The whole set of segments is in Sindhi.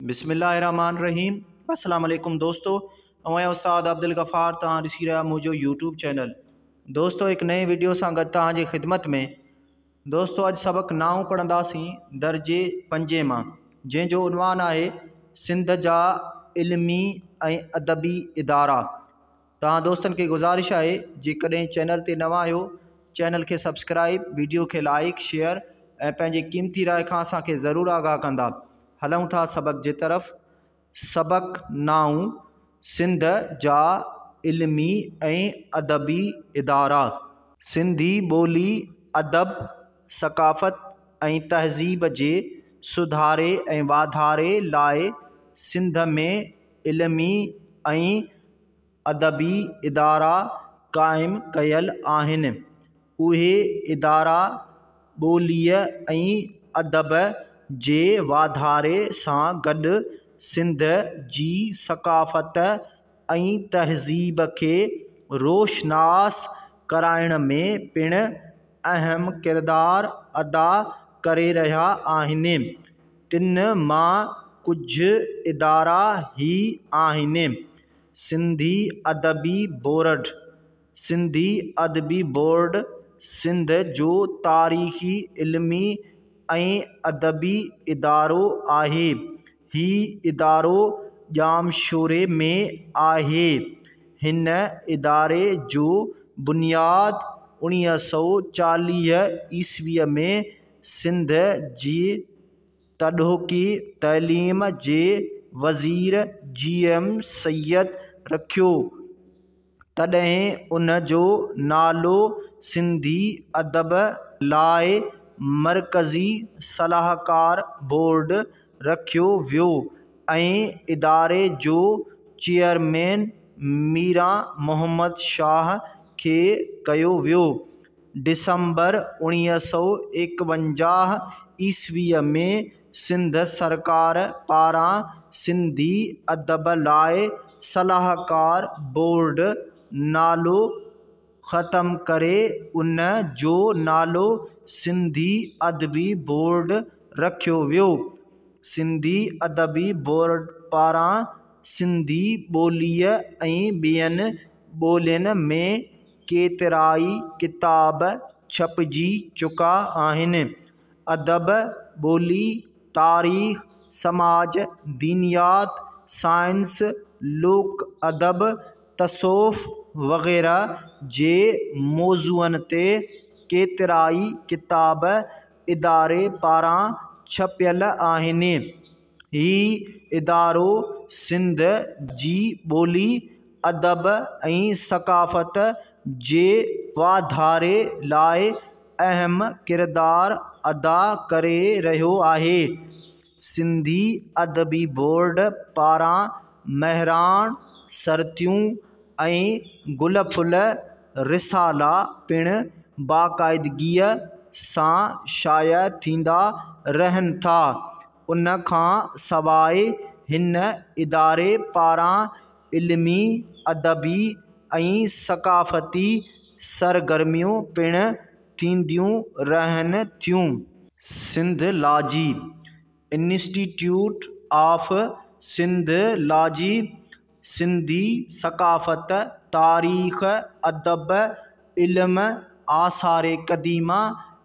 بسم الله الرحمٰن الرحيم السلام عليڪم دوستو اوهين استاد عبدالغفار توهان ڏسي رهيا منهنجو يوٽيوب چينل دوستو هڪ نئين ويڊيو سان گڏ توهان جي خدمت ۾ دوستو اڄ سبق نائون پڙهنداسين درجي پنجين مان جنهن جو عنوان آهي سنڌ جا علمي ۽ ادبي ادارا توهان دوستن کي گذارش آهي جيڪڏهن چينل تي نوان آهيو چينل کي سبسڪرائيب ويڊيو کي لائيڪ شيئر ۽ پنهنجي قيمتي راء کان اسان کي ضرور آگاهه ڪندا هلون ٿا سبق جي طرف سبق نائون سنڌ جا علمي ۽ ادبي ادارا سنڌي ٻولي ادب ثقافت ۽ تهذيب جي سڌاري ۽ واڌاري لاء سنڌ ۾ علمي ۽ ادبي ادارا قائم ڪيل آهن اهي ادارا ٻوليء ۽ ادب جي واڌاري سان گڏ سنڌ جي ثقافت ۽ تهذيب کي روشناس ڪرائڻ ۾ پڻ اهم ڪردار ادا ڪري رهيا آهن تن مان ڪجهه ادارا هي آهن، سنڌي ادبي بورڊ، سنڌي ادبي بورڊ سنڌ جو تاريخي، علمي ۽ ادبي ادارو آهي. هي ادارو ڄامشوري ۾ آهي. هن اداري جو بنياد اڻيهه سؤ چاليهه عيسويء ۾. سنڌ جي تڏهوڪي تعليم جي وزير جي ايم سيد رکيو تڏهن ان جو نالو سنڌي ادب لاء مرڪزي صلاحڪار بورڊ رکيو ويو ۽ اداري جو چيئرمين ميران محمد شاهه کي ڪيو ويو ڊسمبر اوڻيهه سؤ ايڪونجاهه عيسويء ۾ سنڌ سرڪار پاران سنڌي ادب لاء صلاحڪار بورڊ نالو ختم ڪري ان جو نالو سنڌي ادبي بورڊ رکيو ويو. سنڌي ادبي بورڊ پاران سنڌي ٻوليء ۽ ٻين ٻولين ۾ ڪيترائي ڪتاب ڇپجي چڪا آهن. ادب، ٻولي، تاريخ، سماج، دينيات، سائنس، لوڪ ادب، تصوف وغيره جي موضوعن تي ڪيترائي ڪتاب اداري پاران ڇپيل آهن. هي ادارو سنڌ جي ٻولي، ادب ۽ ثقافت جي واڌاري لاء اهم ڪردار ادا ڪري رهيو آهي. سنڌي ادبي بورڊ پاران مهراڻ سرتيون ۽ گل ڦل رسالا پڻ باقاعدگيء سان شايع ٿيندا رهن ٿا. ان کان سواء هن اداري پاران علمي، ادبي ۽ ثقافتي سرگرميون پڻ ٿينديون رهن ٿيون. Sindhology, institute of Sindhology, Sindhi ثقافت، تاريخ، ادب، علم، آثار قديمه،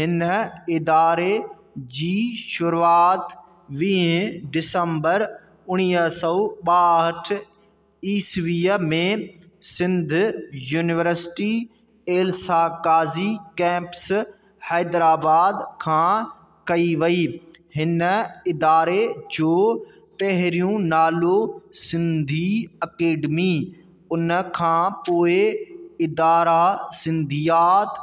هن اداري جي شروعات ويهه ڊسمبر اوڻيهه سؤ ٻاهٺ عيسويء ۾ سنڌ يونيورسٽي ايلسا قاضي ڪئمپس حيدرآباد کان ڪئي وئي. هن اداري جو پهريون نالو سنڌي اڪيڊمي، ان کان پوء اداره سنڌيات،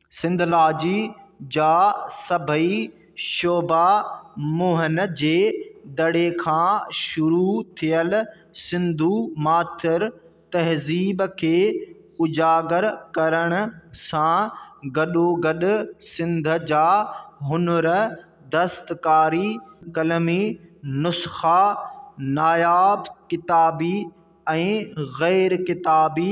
سنڌولاجيء جا سڀئي شعبا موهن جي دڙي کان شروع ٿيل سنڌو ماٿر تهذيب کي اجاگر ڪرڻ سان گڏوگڏ سنڌ جا هنر، دستڪاري، قلمي نسخا، ناياب ڪتابي ۽ غير ڪتابي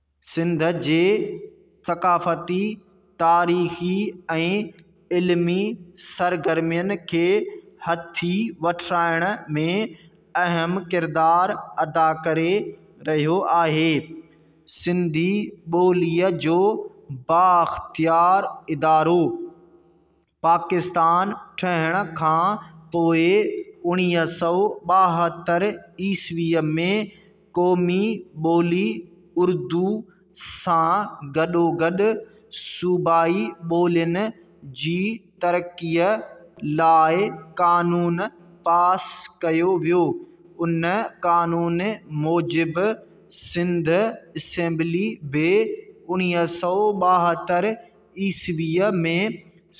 سنڌ جي ثقافتي، تاريخي ۽ علمي سرگرمين کي هٿي وٺرائڻ ۾ اهم ڪردار ادا ڪري رهيو آهي. سنڌي ٻوليء جو بااختيار ادارو. پاڪستان ٺهڻ کان پوء اوڻيهه سؤ ٻاهتر عيسويء ۾ قومي ٻولي اردو سان گڏوگڏ صوبائي ٻولين جي ترقيء لاء قانون پاس ڪيو ويو. ان قانون موجب سنڌ اسيمبلي به اوڻيهه سؤ ٻاهتر عيسويء ۾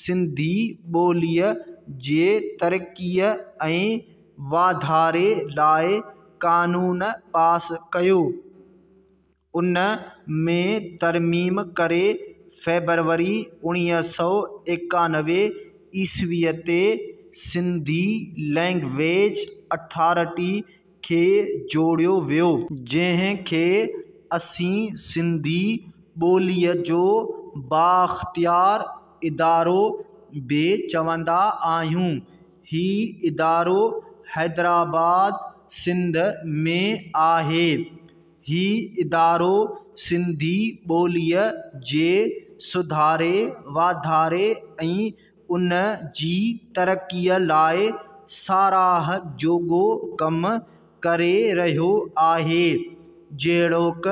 سنڌي ٻوليء جي ترقيء ۽ واڌاري لاء قانون پاس ڪيو. ان ۾ ترميم ڪري فيبروري اوڻيهه سؤ ايڪانوي عيسويء تي سنڌي لئنگويج اٿارٽي کي جوڙيو ويو. جنهن کي اسين سنڌي ٻوليء جو بااختيار ادارو به چوندا آهيون. هي ادارو حيدرآباد، سنڌ ۾ آهي. هي ادارو سنڌي ٻوليء جي سڌاري، واڌاري ۽ ان جي ترقيء لاء ساراهه جوڳو ڪم ڪري رهيو آهي، جهڙوڪ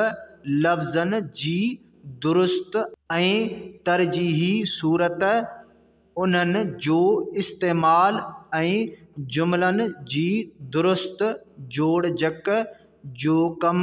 لفظن جي درست ۽ ترجيحي صورت، انهن جو استعمال ۽ جملن جي درست جوڙجڪ جو ڪم،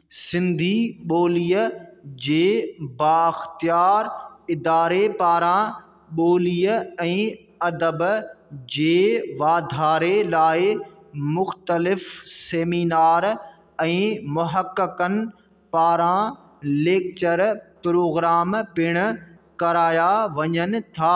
سنڌي ٻوليء جي بااختيار اداري پاران ٻوليء ۽ ادب جي واڌاري لاء مختلف سيمينار ۽ محققن پاران ليڪچر پروگرام پڻ ڪرايا وڃن ٿا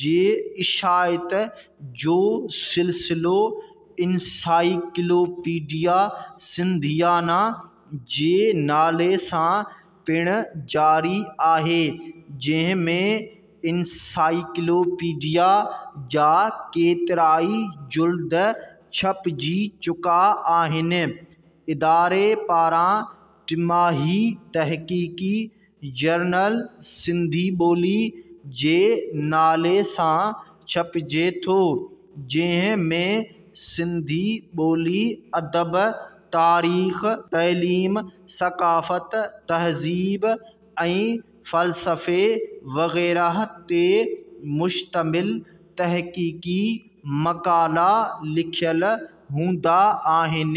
جي اشاعت جو سلسلو انسائيڪلوپيڊيا سنڌيانا جي نالي سان پڻ جاري آهي، جنهن ۾ انسائيڪلوپيڊيا جا ڪيترائي جلد ڇپجي چڪا آهن. اداري پاران ٽماهي تحقيقي جرنل سنڌي ٻولي جي نالي سان ڇپجي ٿو جنهن ۾ سنڌي ٻولي، ادب، تاريخ، تعليم، ثقافت، تهذيب ۽ فلسفي وغيره تي مشتمل تحقيقي مقالا لکيل هوندا آهن.